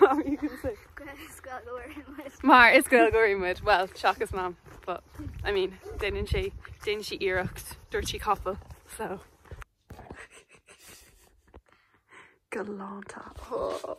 Mom, were you gonna say. Mar is Gaeilgeoirí muid, well, seachas Mam, but I mean, déanann sé, déanann sí iarracht, dúirt sí cúpla, so. Galánta. Oh.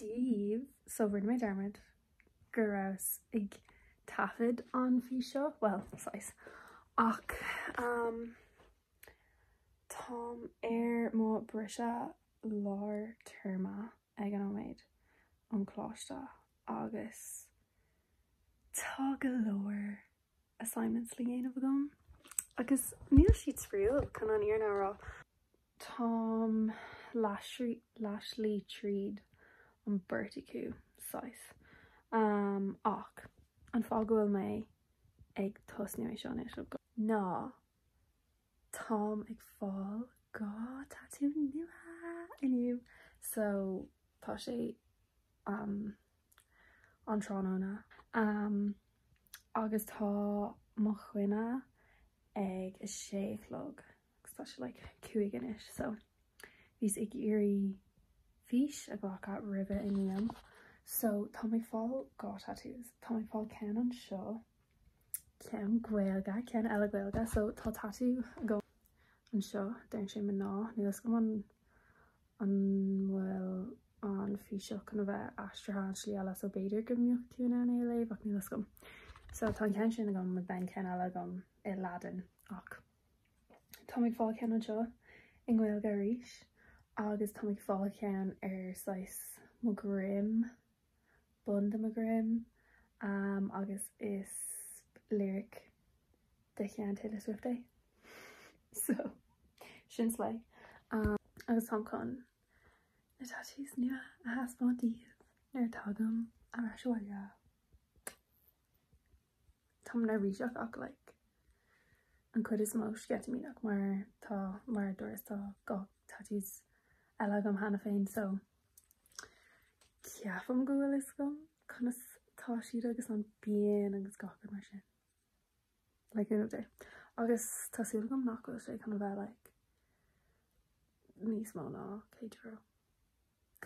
daoibh, so rinne mé dearmad go rabhas ag taifead an fís seo, bhuel, saghas, ach táim ar mo bhriseadh lár téarma. ag an nóiméad ón gcoláiste agus tá go leor assignments le dhéanamh agam agus níl siad spraíúil chun an fhírinne a rá. Táim leathshlí tríd an mbeirt acu saghas um, ach an fáth go bhfuil mé ag tosnú é seo anois ná Táim ag fáil dhá tatú nua inniu so tá sé um an tráthnóna um agus tá mo choinne ag a sé a chlog agus tá sé like cúig anois so bhíos ag iarraidh fís a ghlacadh roimh a n-imím so táim ag fáil dhá tatús, táim ag fáil ceann anseo ceann gaeilge ceann eile gaeilge so tá tatú agam anseo deireann sé mná ní fhios agam an an bhfuil an fís seo chun a bheith aistrithe an tslí eile so b'fhéidir go mbeidh tú in ann é a léamh ach ní fhios agam so tá an ceann sin agam agus bhí an ceann eile agam i Laidin ach táim ag fáil ceann anseo i ngaeilge arís agus táim ag fáil ceann ar saghas mo dhroim bun do mo dhroim um agus is lyric de chuid Taylor Swift é so sin slay um agus táim chun na tattoos nua a thaispeáint daoibh nuair a dtagaim ar ais abhaile. Tá mé neirbhíseach ach like an chuid is mó sceitimíneach mar tá mar a dúras tá dhá tattoos eile agam cheana féin so Ceapaim go bhfuil a fhios agam conas atá siad agus an phian agus gach rud mar sin. Like an idea. Agus tá súil agam nach bhfuil sé chun a bheith like níos mó ná céad euro.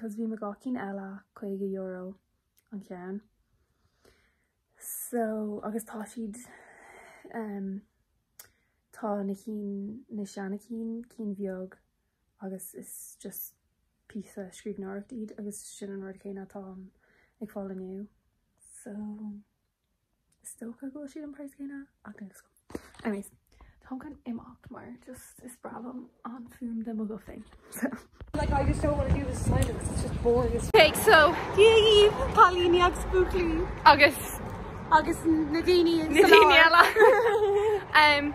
Cos bhí mo dhá cinn eile caoga euro an ceann. So agus tá siad ehm tá na cinn na seana cinn, cinn bheag agus is just píosa scríbhneoireachta iad agus sin an rud céanna atáim ag fáil inniu. So is dócha go bhfuil siad an praghas céanna ach níl 'fhios agam. Anyways, táim chun imeacht mar just is breá liom an fuaim de mo ghuth féin. So. Like I just don't want to do this assignment because it's just boring as. Ok, so Dia dhaoibh, cailíní agus buachaillí. Agus. Agus na daoine. Na daoine eile. Umm.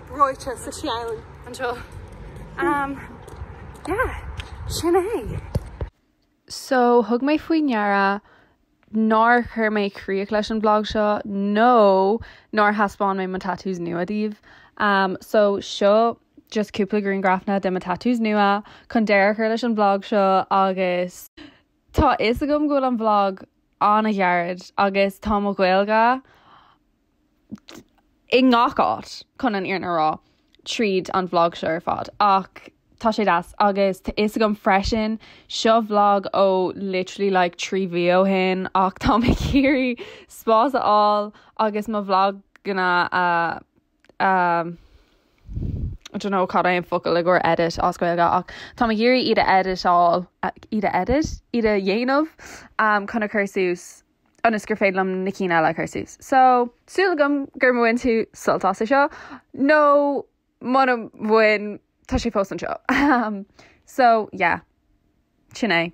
ráite sa cheann anseo. Umm, yeah, sin é. So, thug mé faoi ndeara nár chuir mé críoch leis an bhlag seo nó nár thaispeáin mé mo tattoos nua daoibh. Um, so, seo just cúpla grianghrafanna de mo tattoos nua chun deireadh a chur leis an bhlag seo agus tá fhios agam go bhfuil an bhlag an-ghairid agus tá mo Ghaeilge i ngach áit chun an fhírinne a rá tríd an bhlag seo ar fad ach tá sé deas agus tá fhios agam freisin seo bhlag ó literally like trí mhí ó shin ach tá mé ag iarraidh spás a fháil agus mo bhlaganna a I don't know cad é an focal i gcomhair edit as Gaeilge ach tá mé ag iarraidh iad a eiditeáil iad a edit? iad a dhéanamh chun a chur suas. ionas gur féidir liom na cinn eile a chur suas. So, súil agam gur bhain tú sult as é seo, nó muna bhain, tá sé fós anseo. So, yeah. Sin é.